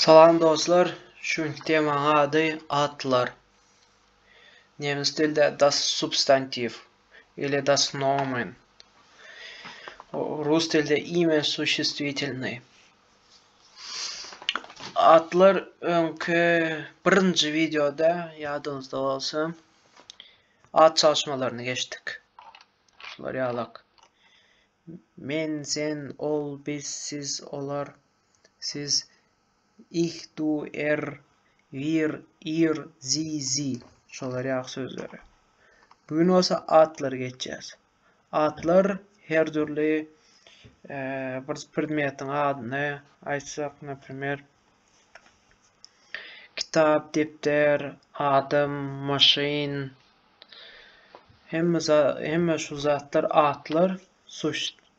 Salam dostlar, şu günki temaň ady atlar. Nemes dilde das substantiv ile das nomen. Rus dilde imya suşestwitelny. Atlar öňki birinji videoda ýadyňyzda bolsa at çalyşmalaryny geçdik. Şular ýalak. Men, sen, ol, biz, siz, olar, siz, ih, du, er, wir, ir, zi, zi. Şolar ýaly sözleri. Bu gün bolsa atlary geçýäs. Atlar her dürli bir predmetiň adyny aýtsak, naprimer, Kitap, depder, adam, maşyn, hemme şu zatlar atlar,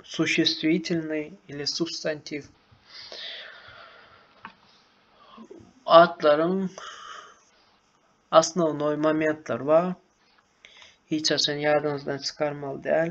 suşestwitelnyý ili substantiw. Atlaryň asnownoý momentlary bar. Hiç haçan ýadyňyzdan çykarmaly däl.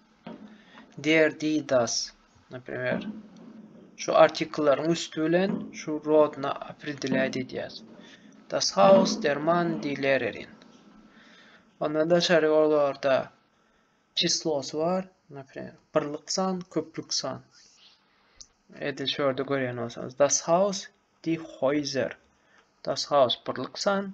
Der di das. Naprimer, şu artikellaryň üsti bilen şu rodna opredelýat edýäs. Das Haus, der Mann, di Lehrerin. Ondan daşary olarda çislosy bar. Naprimer, birlik san, köplük san. Edil şu ýerde görýän bolsaňyz. Das Haus, di Häuser. Das Haus, birlik san,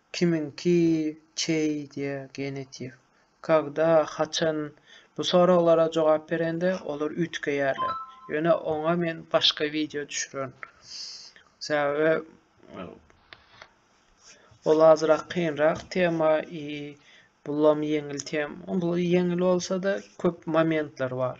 Kimiňki, çeý? diýýär genetiw. Kagda, haçan? Bu soraglara jogap berende olar üýtgeýärler. Ýöne oňa men başga wideo düşürerin. Sebäbi ol azrak kynrak tema i bulam ýeňil tema. Bul ýeňil bolsa-da köp momentler bar.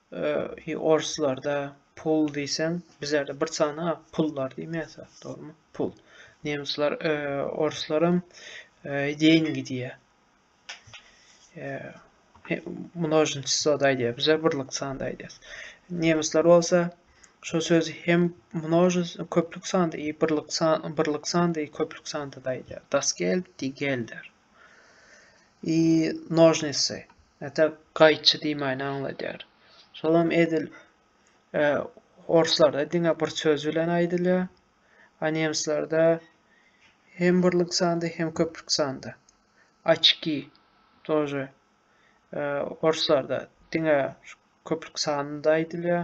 He orslarda pul diýseň bizlerde bir sana pullar diýmäýse dogrymy pul. Nemsler orslaram деньги diýýär. Množni çyslo da aýdýar. Bizler birlik sanda aýdýarys. Nemsler bolsa şu söz hem množi köplük sanda i birlik san birlik sanda i köplük sanda da aýdýar. Das geld die gelder. i nožnisi ata gaýçy diýmäni aňladýar şolam edil e, orslarda diňe bir söz bilen aýdylýar a nemslerde hem birlik sanda hem köplük sanda açki тоже e, orslarda diňe köplük sanynda aýdylýar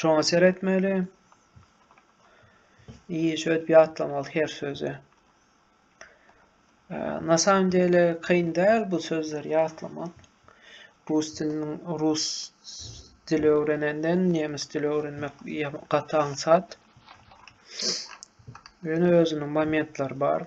Şoňa seretmeli. İyi şöýdüp ýatlamaly her sözi. Na samym dele kyn däl bu sözleri ýatlamak. Rus diliniň rus dili öwrenenden nemes dili öwrenmek gaty aňsat. Ýöne özüniň momentleri bar.